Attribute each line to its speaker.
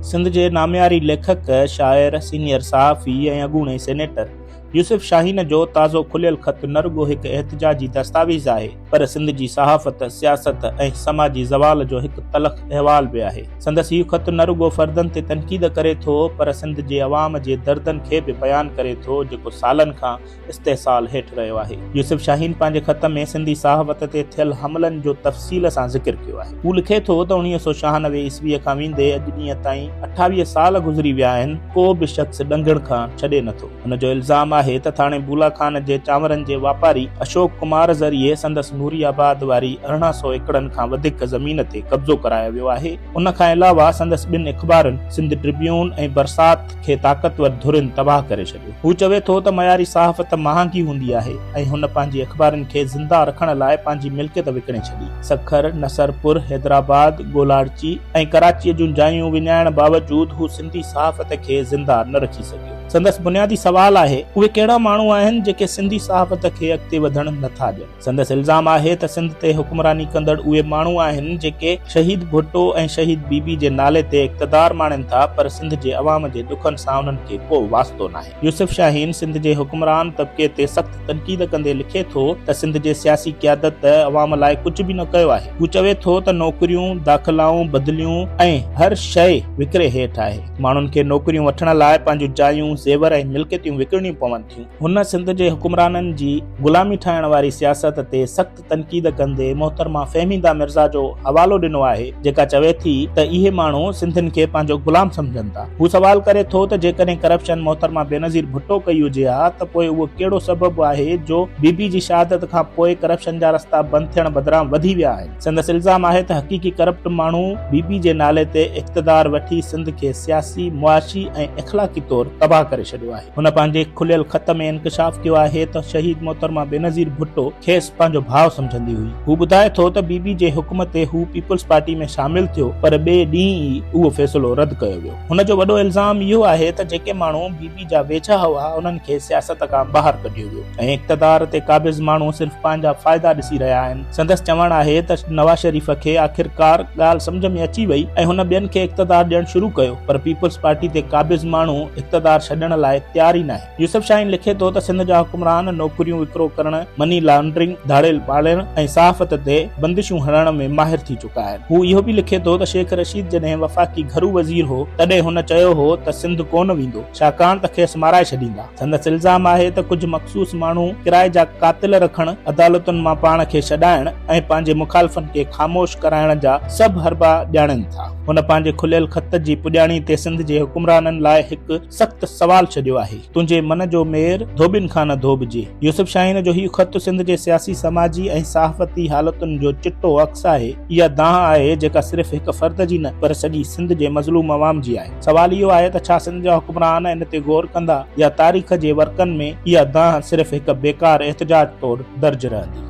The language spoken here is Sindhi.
Speaker 1: سنڌ جي نامياري ليکڪ، شاعر، سينيئر صحافي ۽ اڳوڻي سينيٽر يوسف شاهين جو تازو کليل خط نه رڳو هڪ احتجاجي دستاويز آهي پر سنڌ جي صحافت، سياست ۽ سماجي زوال جو هڪ تلخ احوال به آهي. سندس هي خط نه رڳو فردن تي تنقيد ڪري ٿو پر سنڌ جي عوام جي دردن کي به بيان ڪري ٿو جيڪو سالن کان استحصال هيٺ رهيو آهي. يوسف شاهين پنهنجي خط ۾ سنڌي صحافت تي ٿيل حملن جو تفصيل سان ذڪر ڪيو آهي. هو لکي ٿو ته اڻويهه سؤ ڇهانوي عيسويء کان ويندي اڄ ڏينهن تائين اٺاويهه سال گذري ويا آهن، ڪو به شخص ڏنگڻ کان ڇڏي نه ٿو. هن جو الزام آهي ته ٿاڻي بولا خان جي چانورن جي واپاري اشوڪ ڪمار ذريعي سندس نوري آباد واري ارڙهن سؤ ايڪڙن کان وڌيڪ زمين تي قبضو ڪرايو ويو آهي. ان کان علاوه سندس ٻن اخبارن سنڌ ٽربيون ۽ برسات، کي طاقتور ڌرين تباهه ڪري ڇڏيو. هو چوي ٿو ته معياري صحافت مهانگي هوندي آهي ۽ هن پنهنجي اخبارن کي زنده رکڻ لاء پنهنجي ملڪيت وڪڻي ڇڏي. سکر، نصر پور، حيدرآباد، گولاڙچي ۽ ڪراچيء جون جايون وڃائڻ باوجود هو سنڌي صحافت کي زنده نه رکي سگهيو. سندس بنيادي سوال آهي، اهي ڪهڙا ماڻهو آهن جيڪي سنڌي صحافت کي اڳتي وڌڻ نه ٿا ڏين؟ سندس الزام آهي ته سنڌ تي حڪمراني ڪندڙ اهي ماڻهو آهن جيڪي شهيد ڀٽو ۽ شهيد بي بي جي نالي تي اقتدار ماڻين ٿا پر سنڌ جي عوام جي ڏکن سان انهن کي ڪو واسطو ناهي. يوسف شاهين سنڌ جي حڪمران طبقي تي سخت تنقيد ڪندي لکي ٿو ته سنڌ جي سياسي قيادت ته عوام لاء ڪجهه به نه ڪيو آهي. هو چوي ٿو ته نوڪريون، داخلائون، بدليون ۽ هر شيء وڪري هيٺ آهي. ماڻهن کي نوڪريون وٺڻ لاء پنهنجون جايون، زيور ۽ ملڪيتيون وڪڻڻيون پون. هن سنڌ جي حڪمرانن جي غلامي ٺاهڻ واري سياست تي سخت تنقيد ڪندي محترمه فهميده مرزا جو حوالو ڏنو آهي جيڪا چوي ٿي ته اهي ماڻهو سنڌين کي پنهنجو غلام سمجهن ٿا. هو سوال ڪري ٿو ته جيڪڏهن ڪرپشن محترمه بينظير ڀٽو ڪئي هجي ها ته پوء اهو ڪهڙو سبب آهي جو بي بي جي شهادت کان پوء ڪرپشن جا رستا بند ٿيڻ بدران وڌي ويا آهن. سندس الزام آهي ته حقيقي ڪرپٽ ماڻهو بي بي جي نالي تي اقتدار وٺي سنڌ کي سياسي، معاشي ۽ اخلاقي طور تباهه ڪري ڇڏيو آهي. هن پنهنجي کليل خط ۾ انڪشاف ڪيو آهي ته شهيد محترمه بينظير ڀٽو کيس پنهنجو ڀاء سمجهندي هئي. هو ٻڌائي ٿو ته بي بي جي حڪم تي هو پيپلز پارٽي ۾ شامل ٿيو پر ٻئي ڏينهن ئي اهو فيصلو رد ڪيو ويو. هن جو وڏو الزام اهو آهي ته جيڪي ماڻهو بي بي جا ويجها هئا انهن کي سياست کان ٻاهر ڪڍيو ويو ۽ اقتدار تي قابض ماڻهو صرف پنهنجا فائدا ڏسي رهيا آهن. سندس چوڻ آهي ته نواز شريف کي آخرڪار ڳالهه سمجهه ۾ اچي وئي ۽ هن ٻين کي اقتدار ڏيڻ شروع ڪيو پر پيپلز پارٽي تي قابض ماڻهو اقتدار ڇڏڻ لاء تيار ئي ناهي. يوسف شاهين لکي ٿو ته سنڌ جا حڪمران نوڪريون وڪرو ڪرڻ، مني لانڊرنگ، ڌاڙيل پاڙڻ ۽ صحافت تي بندشون هڻڻ ۾ ماهر ٿي چڪا آهن. هو اهو به لکي ٿو ته شيخ رشيد جڏهن وفاقي گهرو وزير هو تڏهن هن چيو هو ته سنڌ ڪونه ويندو. ڇاڪاڻ ته کيس مارائي ڇڏيندا. سندس الزام آهي ته ڪجهه مخصوص ماڻهو ڪرائي جا قاتل رکڻ، عدالتن مان پاڻ کي ڇڏائڻ ۽ پنهنجي مخالفن کي خاموش ڪرائڻ جا سڀ حربا ڄاڻين ٿا. هن پنهنجي کليل خط جي پڄاڻي تي سنڌ جي حڪمرانن لاء هڪ سخت سوال ڇڏيو آهي. تنهنجي من جو مير ڌوٻين کان نه ڌوٻجي. يوسف شاهين جو هي خط سنڌ جي سياسي، سماجي ۽ صحافتي حالتن جو چٽو عڪس آهي. اها دانهن آهي جيڪا صرف هڪ فرد جي نه پر سڄي سنڌ جي مظلوم عوام جي آهي. سوال اهو آهي ته ڇا سنڌ جا حڪمران ان تي غور ڪندا يا تاريخ جي ورقن ۾ اها دانهن صرف هڪ بيڪار احتجاج طور درج رهندي.